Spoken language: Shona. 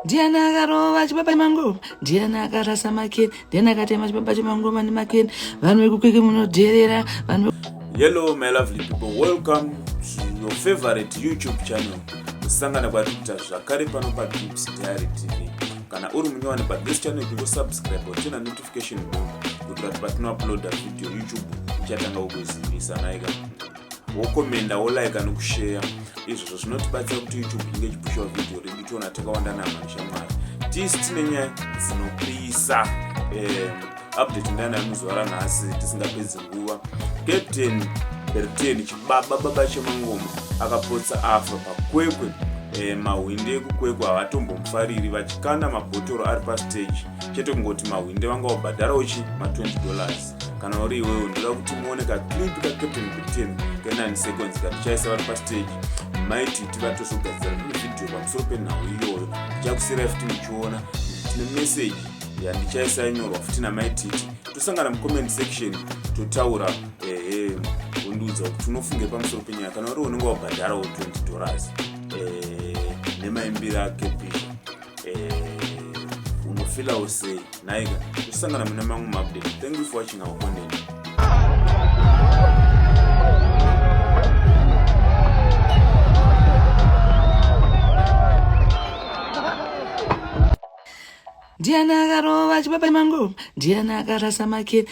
ndiani akarova chibaba chemangoma ndiani akarasa makeni ndiani akatema chibaba chemangoma nemakeni vanhu vekukweke munodherera vanhu hello my lovely people welcome to your favorite youtube channel kusangana kwari kuita zvakare pano padrips diary tv kana uri munyowani padris channel kungosubscribe uchina notification bell kuitira kuti patinouploada video youtube ichatanga kukuzivisa naika wokomenda wolaika nokusheya izvozvo zvinotibatsira kuti youtube inge ichipushawo vhidhiyo redu tiona takawanda navo vanoshamwari tisi tine nyaya dzinopisa eh, update ndana yemuzuva ranhasi tisingapedzi nguva captain berten chibaba baba chemangoma akapotsa afa pakwekwe eh, mahwinde ekukwekwe havatombomufariri vachikanda mabhotoro ari pastage chete kungoti mahwinde vanga wabhadharawo chi ma 20 dollars kana uri iwewe ndoda kuti muone kaclip kacaptain britain kenani seconds katichaisa vari pastage maiti tivatozogadzira rimwe vhidhiyo pamusoro penhau iyoyo ndichakusira futi muchiona tine meseji yandichaisa inyorwa futi namaititi tosangana mucomment section totaura ehe undiudza kuti unofunge pamusoro penyaya kana uri unenge wabhadharawo 20 dollars eh, nemaimbiro akepisha eh, unofila hey, usei naika kusangana mune mamwe maupdate thank you for watching our content ndiani akarova chibaba mangu ndiani akarasa makiri